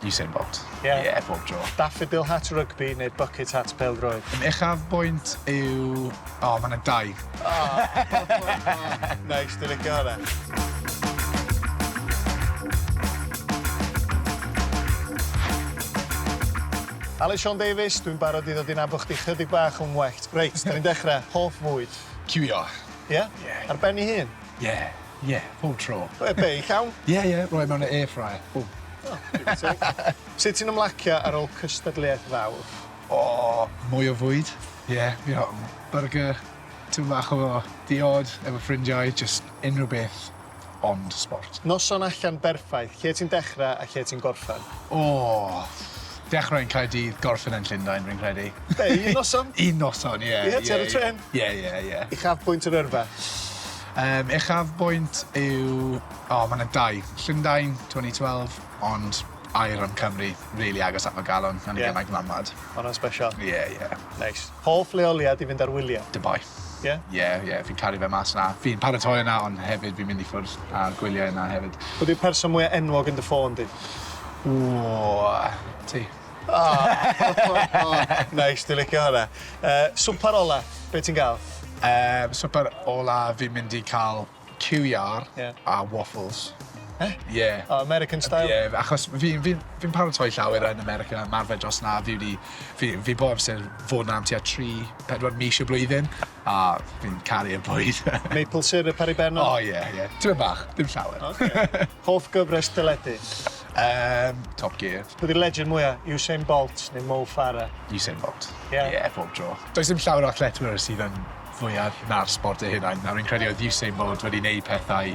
Usain Bolt. Ie? Ie, bob tro. Daffodil Hat Rygbi neu Bucket Hat Pêl-droed? Yn uchafbwynt yw... O, mae 'na dau. O! Neis, dwi'n licio hwnna. Aled Siôn Davies, dwi'n barod i ddod i nabod chdi chydig bach yn well. Reit, 'da ni'n dechra. Hoff fwyd? Ciwio. Ie? Ie. Ar ben ei hun? Ie, ie, pob tro. Roedd e'n beic iawn. Ie, ie, roedd e mewn air fryer. Bwm. O, digon teg. Sut ti'n ymlacio ar ôl cystadleuaeth fawr? O, mwy o fwyd, ie, byrgyr, tipyn bach o diod efo ffrindiau, jyst unrhyw beth ond sport. Noson allan berffaith, lle ti'n dechrau a lle ti'n gorffen? O, dechrau yn Caerdydd, gorffen yn Llundain, rwy'n credu. Be', un noson? Un noson, ie. Ie, ti ar y trên. Ie ie ie. Uchafbwynt yr yrfa? Yym uchafbwynt yw o ma' 'na dau. Llundain twen'y twelve ond aur yn Cymru rili agos at fy galon yn y... Ie. ...gymaint ddanwad. Ma' wnna'n sbesial. Ie ie. Neis. Hoff leoliad i fynd ar wylie? Dubai. Ie? Ie ie fi'n caru fe mas 'na. Fi'n paratoi yna ond hefyd fi'n mynd i ffwrdd a gwylie yna hefyd. Pwy 'di'r person mwya enwog yn dy ffôn di? Ww. Ti? Neis, dwi'n licio hwnna. Yy, swper ola, be' ti'n ga'l? Yy, swper ola fi'n mynd i ca'l ciw iâr... Ie. ...a waffles. Be'? Ie. O American style? Ie, achos fi fi fi'n paratoi llawer yn America, ymarfer dros 'na, fi wedi fi fi bob amser fod 'na am tua tri, pedwar mis y blwyddyn. A fi'n caru y bwyd. Maple syrup ar ei ben o? O ie ie. Tipyn bach, dim llawer. Oce. Hoff gyfres teledu? Yym, Top Gear. Pwy 'di'r legend mwya'? Usain Bolt neu Mo Farah? Usain Bolt. Ie? Ie, pob tro. Does dim llawer o athletwyr sydd yn fwyaf na'r sport eu hunain, a rwy'n credu oedd Usain Bolt wedi neud pethau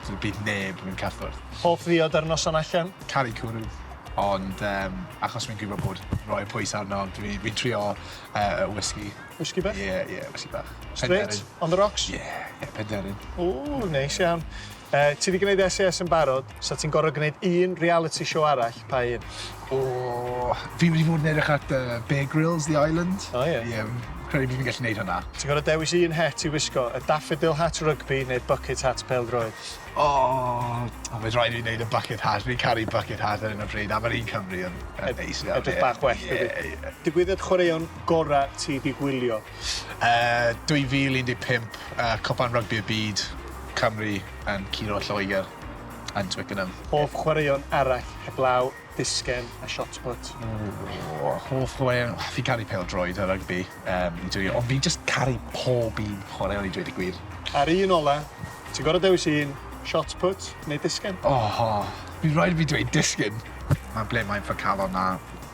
lle bydd neb yn cyffwrdd. Hoff ddiod ar noson allan? Caru cwrw, ond yym achos rwy'n gwybod bod rhoi pwys arno, dwi dwi'n trio yy y whisky. Whisky bach? Ie, ie, whisky bach. Straight? Penderyn. On the rocks? Ie, ie, penderyn. O, neis iawn. E, ti wedi gwneud SAS yn barod, so ti'n gorfod gwneud un reality show arall, pa un? O, fi wedi bod yn edrych at uh, Bear Grylls, The Island. O, ie. Ie, credu fi'n gallu gwneud hwnna. Ti'n gorfod dewis un het i wisgo, y daffodil hat rygbi neu'r bucket hat peldroed? O, oh, mae'n rhaid i wneud y bucket hat. Fi'n caru bucket hat ar un o bryd, a mae'r un Cymru yn neis. Edrych bach well, yeah, yeah. Digwyddiad chwaraeon gorau ti 'di gwylio? Yy 2015 a Cwpan Rygbi y Byd, Cymru yn curo Lloegr yn Twickenham. Hoff chwaraeon arall heblaw disgen a shot put? O! Hoff chwaraeon, fi'n caru pêl-droed a rygbi yym i dwli ond fi'n jyst caru pob un chwaraeon i dweud y gwir. A'r un ola, ti'n gor'o' dewis un, shot put neu disgen? O! Bydd raid i fi dweud disgen! Mae ble mae fy calon a